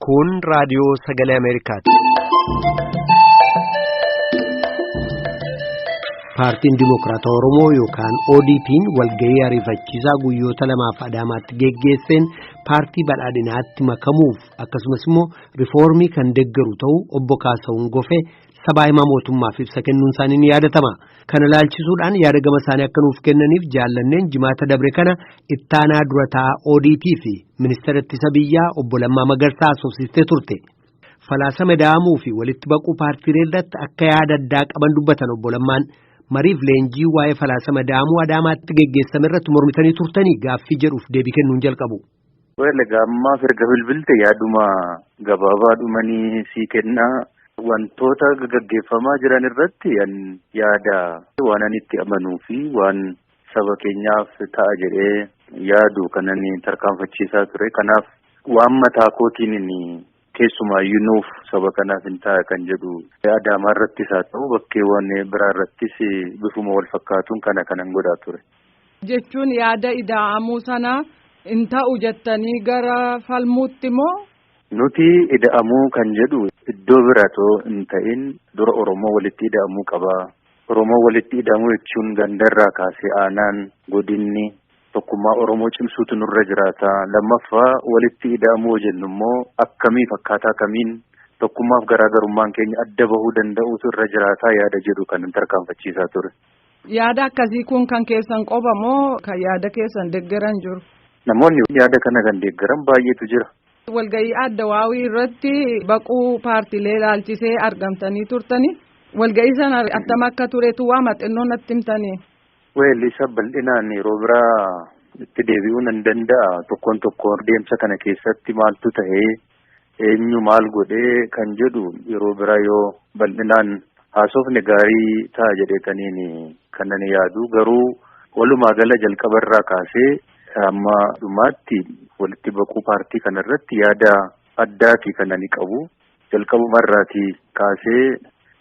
Kun raadiyoo sagalee Ameerikaati. Paartiin Dimookiraatawaa Oromoo yookaan ODP'n walgahii ariifachiisaa guyyoota lamaaf Adaamaatti geggeesseen paartii badhaadhinaatti makamuuf akkasumas immoo rifoormii kan deggeru ta'uu obbo Kaasahuun Gofee sabaa himaa mootummaaf ibsa kennuun isaanii ni yaadatama. Kana ilaalchisuudhaan yaada gama isaanii akka nuuf kennaniif jaallanneen jimaata dabre kana ittaanaa dura taa'aa ODP fi ministeera ittisa biyyaa obbo Lammaa Magarsaa haasofsiistee turte. Falaasama da'amuu fi walitti baquu paartiilee irratti akka yaada addaa qaban dubbatan obbo Lammaan mariif leenjii waa'ee falaasama da'amuu Adaamaatti geggeessame irratti mormitanii turtanii gaaffii jedhuuf deebii kennuun jalqabu. Weel egaa ammaaf erga bilbilte yaaduma gabaabaa dhumanii sii kennaa wantoota gaggeeffamaa jiran irratti an yaada waan ani itti amanuu fi waan saba keenyaaf ta'a jedhee yaadu kanan tarkaanfachiisaa ture kanaaf waan mataa kootiin keessumaayyuu nuuf saba kanaaf hin ta'a kan jedhu Adaamaa irrattis haa ta'u bakkeewwan biraa irrattis bifuma wal fakkaatuun kana kanan godhaa ture. Jechuun yaada ida'amuu sana hin ta'u jettanii gara falmuutti moo? Nuti ida'amuu kan jedhu iddoo biratoo hin ta'in dura Oromoo walitti ida'amuu qaba. Oromoo walitti ida'amuu jechuun gandarraa kaasee aanaan godinni Tokkummaa Oromoo cimsuutu nurra jiraata. Lammaffaa walitti ida'amuu jennu immoo akkamiif akkaataa kamiin tokkummaaf garaagarummaan keenya adda bahuu danda'uutu irra jiraataa yaada jedhu kan tarkaanfachiisaa ture. Yaada akkasii kun kan keessan qofa moo kan yaada keessan deeggaran jiru? Namoonni yaada kana kan deeggaran baay'eetu jira. Walgahii adda waawii irratti baquu paartiilee ilaalchisee argamtanii turtanii walgahii sana attam akka turetu waa maxinnoon natti himtanii? Weellisa bal'inaan yeroo biraa itti deebi'uu nan danda'a. Tokkoon tokkoon deemsa kana keessatti maaltu ta'ee eenyu maal godhee kan jedhu yeroo biraa yoo bal'inaan haasofne gaarii ta'a jedheetaniin kan ani yaadu garuu walumaa gala jalqaba irraa kaasee amma dhumaatti walitti baquu paartii kana irratti yaada addaati kan ani qabu. Jalqabuma irraatii kaasee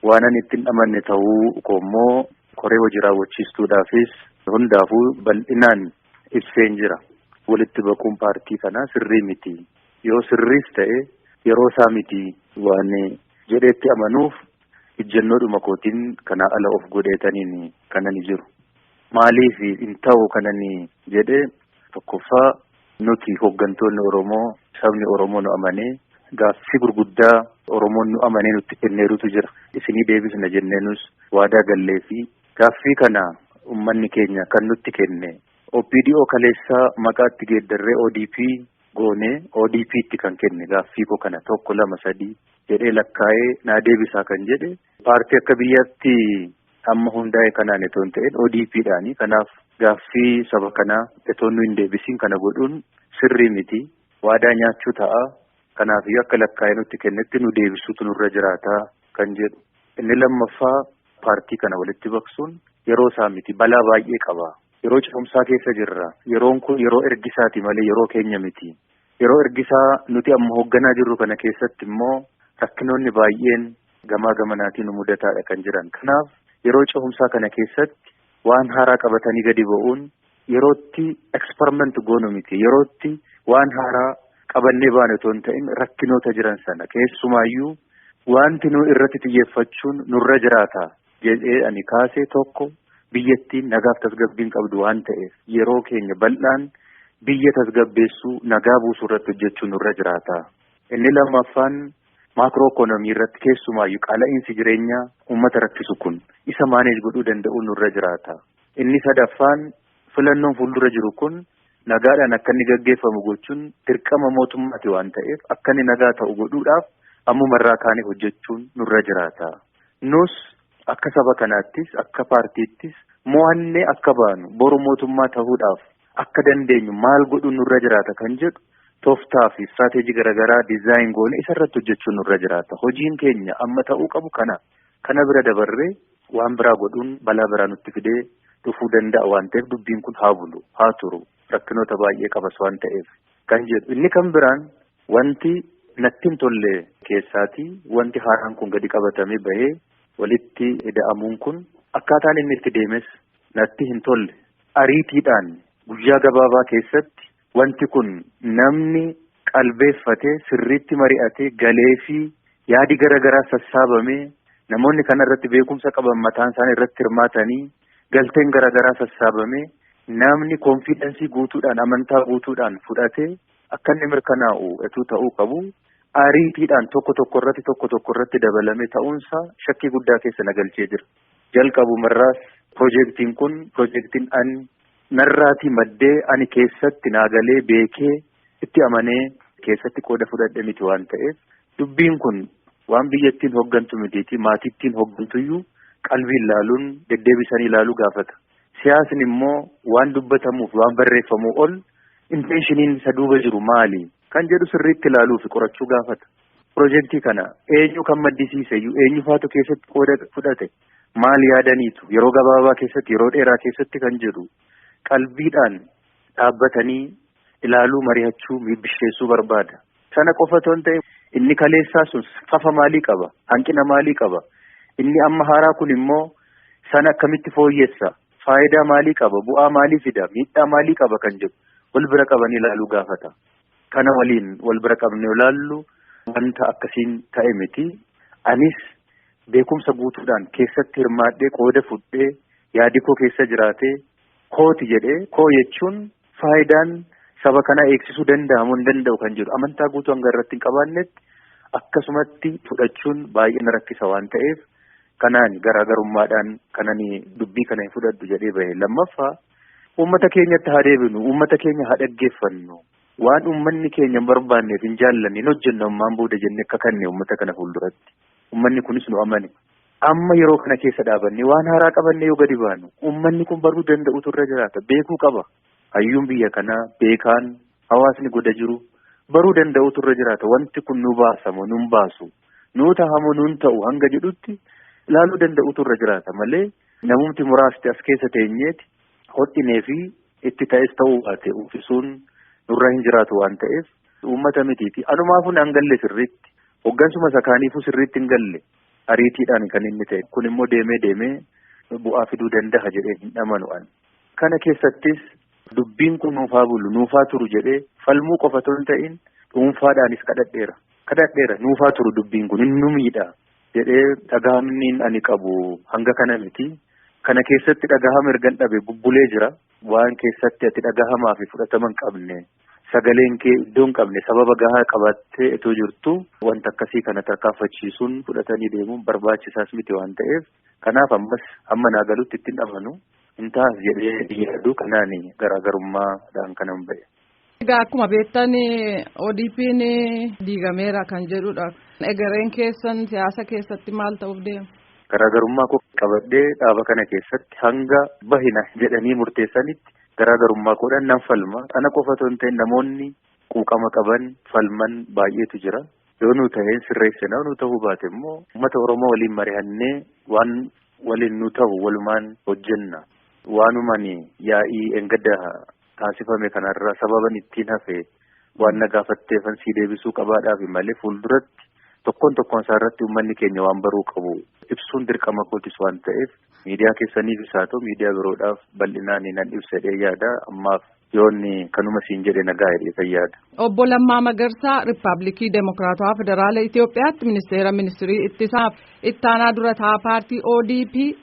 waan ani ittiin amanne ta'uu koo immoo koree hojii raawwachiistuudhaafis hundaafuu bal'inaan ibseen jira. Walitti baquun paartii kanaa sirrii miti. Yoo sirriis ta'e yeroo isaa miti waan jedheetti amanuuf ijjannoodhuma kootiin kanaa ala of godheetaniin kanani jiru. Maaliif hin ta'u kanani jedhe tokkoffaa Nuti hoggantoonni Oromoo sabni Oromoo nu amanee gaaffii gurguddaa Oromoon nu amanee nutti kenneerutu jira. Isinii deebisna jennee nus waadaa gallee fi gaaffii kana ummanni keenya kan nutti kenne OPDO kaleessaa maqaatti geeddarree ODP goonee ODPtti kan kenne gaaffii koo kana tokko lama sadii jedhee lakkaa'ee naa deebisaa kan jedhe Paartii akka biyyaatti amma hundaa'e kanaan itoo hin ta'in ODPdhaani. Kanaaf gaaffii saba kanaa itoo nu hin deebisiin kana godhuun sirrii miti. Waadaa nyaachuu ta'a. Kanaafiyyuu akka lakkaa'ee nutti kennetti nu deebisuutu nurra jiraata kan jedhu. Inni lammaffaa paartii kana walitti baqsuun yeroo isaa miti. Balaa baay'ee qaba. Yeroo cehumsaa keessa jirra. Yeroon kun yeroo ergisaati malee yeroo keenya miti. Yeroo ergisaa nuti amma hoogganaa jirru kana keessatti immoo rakkinoonni baay'een gamaa gamanaatiin nu mudataadha kan jiran. Kanaaf yeroo cehumsaa kana keessatti waan haaraa qabatanii gadi ba'uun yerootti eksperiment goonu miti. Yerootti waan haaraa qabannee baane otoo hin ta'in rakkinoota jiran sana keessumaayyuu wanti nu irratti xiyyeeffachuun nurra jiraata jedhee ani kaase tokko biyyattiin nagaaf tasgabbiin qabdu waan ta'eef yeroo keenya bal'aan biyya tasgabbeessuu nagaa buusuu irratti hojjechuu nurra jiraata. Inni lammaffaan maakroo ikoonomii irratti keessumaayyu qaala'iinsi jireenyaa uummata rakkisu kun isa maaneej godhuu danda'uun nurra jiraata. Inni sadaffaan filannoon fuuldura jiru kun nagaadhaan akka inni gaggeeffamu gochuun dirqama mootummaati waan ta'eef akka inni nagaa ta'u godhuudhaaf ammuma irraa kaanee hojjechuun nurra jiraata. Nus akka saba kanaattis akka paartiittis mo'annee akka baanu boru mootummaa ta'uudhaaf akka dandeenyu maal godhuun nurra jiraata kan jedhu toftaa fi istiraateejii garaagaraa dizaayin goone isarratti hojjechuun nurra jiraata. Hojiin keenya amma ta'uu qabu kana. Kana bira dabarree waan biraa godhuun balaa biraa nutti fidee dhufuu danda'a waan ta'eef dubbiin kun haa bulu haa turu rakkinoota baay'ee qabas waan ta'eef kan jedhu inni kan biraan wanti natti hin tolle keessaati wanti haaraan kun gadi qabatamee bahee walitti ida'amuun kun akkaataan inni itti deemes natti hin tolle. Ariitiidhaan guyyaa gabaabaa keessatti wanti kun namni qalbeeffate sirriitti mari'ate galeefii yaadi gara garaa sassaabamee namoonni kana irratti beekumsa qaban mataan isaanii irratti hirmaatanii galteen gara garaa sassaabamee namni konfiidensii guutuudhaan amantaa guutuudhaan fudhate akka inni mirkanaa'u etuu ta'uu qabu. Ariitiidhaan tokko tokko irratti tokko tokko irratti dabalame ta'uunsaa shakkii guddaa keessa na galchee jira. Jalqabumarraas pirojektiin kun pirojektiin an narraatii maddee ani keessatti naa galee beekee itti amanee keessatti qooda fudhadhe miti waan ta'eef dubbiin kun waan biyyattiin hoggantu mitiitii maatiittiin hoggantuyyuu qalbiin laaluun deddeebisanii ilaaluu gaafata. Siyaasni immoo waan dubbatamuuf waan barreeffamuu ol inteeshiniin isa duuba jiru maali? kan jedhu sirriitti ilaaluu fi qorachuu gaafata. Pirojektii kana eenyu kan maddisiise iyyuu eenyu faatu keessatti qooda fudhate maal yaadaniitu yeroo gabaabaa keessatti yeroo dheeraa keessatti kan jedhu qalbiidhaan dhaabbatanii ilaaluu mari'achuu miibbisheessuu barbaada. Sana qofa otoo hin ta'e inni kaleessaa sun fafa maalii qaba hanqina maalii qaba inni amma haaraa kun immoo sana akkamitti fooyyessa faayidaa maalii qaba, bu'aa maalii fida, miidhaa maalii qaba kan jedhu wal bira qabanii ilaaluu gaafata. Kana waliin wal bira qabnee ilaallu wanta akkasiin ta'e miti. Anis beekumsa guutuudhaan keessatti hirmaadhee qooda fudhee yaadi koo keessa jiraatee kooti jedhee koo jechuun Faayidaan saba kanaa eegsisuu danda'a moo hin danda'u kan jedhu amantaa guutuu hanga irratti hin qabaannetti akkasumatti fudhachuun baay'ee na rakkisa waan ta'eef kanaan garaagarummaadhaan kanan dubbii kana hin fudhadhu jedhee bahe lammaffaa uummata keenyatti haa deebinu uummata keenya haa dhaggeeffannu waan uummanni keenya hin barbaanneef hin jaallanne hin hojjennu ammaan booda jennee akka kanne uummata kana fuulduratti uummanni kunis nu amane Amma yeroo kana keessa dhaabannee waan haaraa qabannee yoo gadi baanu uummanni kun baruu danda'utu irra jiraata. Beekuu qaba. Hayyuun biyya kanaa beekaan hawaasni goda jiru baruu danda'utu irra jiraata. Wanti kun nu baasamo nun baasu nuu tahamo nun ta'u hanga jedhutti ilaaluu danda'utu irra jiraata malee namumti muraasti as keessa teenyeeti hodhinee fi itti ta'es ta'uu baate uffisuun nurra hin jiraatu waan ta'eef uummata mitiiti. Anumaafuu nan galle sirriitti. Hoggansuma sakaaniifuu sirriitti hin galle. ariitiidhaan kan inni ta'e kun immoo deemee deemee bu'aa fiduu danda'a jedhee hin amanu an. Kana keessattis dubbiin kun nuufaa bulu nuufaa turu jedhee falmuu qofa otoo hin ta'in dhuunfaadhaanis kadhadheera. Kadhadheera nuufaa turu dubbiin kun hin numiidha jedhee dhagahamniin ani qabu hanga kana miti. Kana keessatti dhagahama ergan dhabe bubbulee jira. Waan keessatti ati dhagahamaa fi fudhatama hin qabne. Sagaleen kee iddoo hin qabne sababa gahaa qabattee itoo jirtu wanta akkasii kana tarkaanfachiisuun fudhatanii deemuun barbaachisaas miti waan ta'eef kanaaf ammas amma naa galutti ittiin amanu hin taas jedhee yaaduu kanaan garaagarummaadhaan kanan ba'e. Egaa akkuma beektan ODP'n diigameera kan jedhudha. Egereen keessan siyaasa keessatti maal ta'uuf deema? Garaagarummaa koo qabadhee dhaaba kana keessatti hanga bahina jedhanii murteessanitti garaa garummaa koodhaan nan falma. Ana qofa otoo hin ta'in namoonni quuqama qaban falman baay'eetu jira. Yoo nu ta'een sirreessina yoo nu ta'uu baate immoo uummata Oromoo waliin marihannee waan waliin nu ta'u walumaan hojjenna. Waanumani yaa'ii engadda taasifame kanarra sababan ittiin hafe waan na gaafatteefan sii deebisuu qabaadhaafi malee fuulduratti tokkoon tokkoon isaa irratti uummanni keenya waan baruu qabu ibsuun dirqama kootis waan ta'eef miidiyaa keessaniif isaa ta'u miidiyaa biroodhaaf bal'inaan nan ibsadhee yaada ammaaf yoonni kanuma siin jedhe nagaa hidhee fayyaada. Obbo Lammaa Magarsaa Riippaabilikii Demookiraatawaa Federaala Itoophiyaatti Ministeera Ministirii Ittisaaf Ittaanaa Durataa Paartii ODP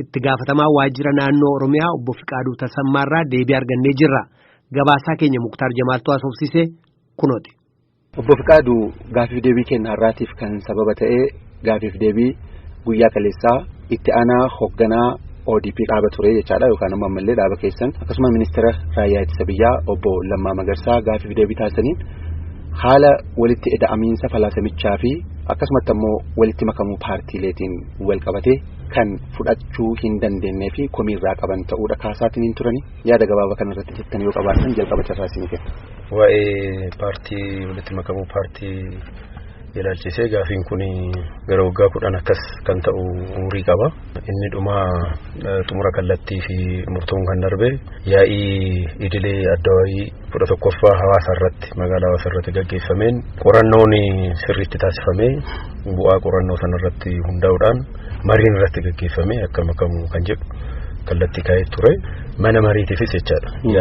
Itti gaafatamaa waajjira naannoo Oromiyaa obbo Fiqaaduu Tasammaarraa deebii argannee jirra. Gabaasaa keenya Muktaar Jamaaltuu haasofsiise kunooti. Obbo Fiqaaduu gaafiif deebii keenya har'aatiif kan sababa ta'e gaafiif deebii guyyaa kaleessaa itti aanaa hoogganaa ODP dhaaba ture jechaadha yookaan ammoo ammallee dhaaba keessan akkasuma ministeera raayyaa ittisa biyyaa obbo Lammaa Magarsaa gaafiif deebii taasisaniin haala walitti eda'amiinsa falaasamichaa fi akkasumatti ammoo walitti makamuu paartiileetiin wal qabatee kan fudhachuu hin dandeenyee fi komii irraa qaban ta'uudha kaasaatiin hin turani yaada gabaabaa kana irratti jettan yoo qabaatan jalqaba carraa isin kenna. Waa'ee paartii walitti makamuu paartii ilaalchisee gaafiin kun gara waggaa kudhan akkas kan ta'u umurii qaba. Inni dhuma xumura kallattii fi murtoon kan darbe yaa'ii idilee adda wayii kudha tokkoffaa hawaasa irratti magaalaa hawaasa irratti gaggeeffameen qorannoon sirriitti taasifamee bu'aa qorannoo sana irratti hundaa'uudhaan mariin irratti gaggeeffamee akka makamu kan jedhu kallattii kaa'ee ture mana mariitiifis jechaadha.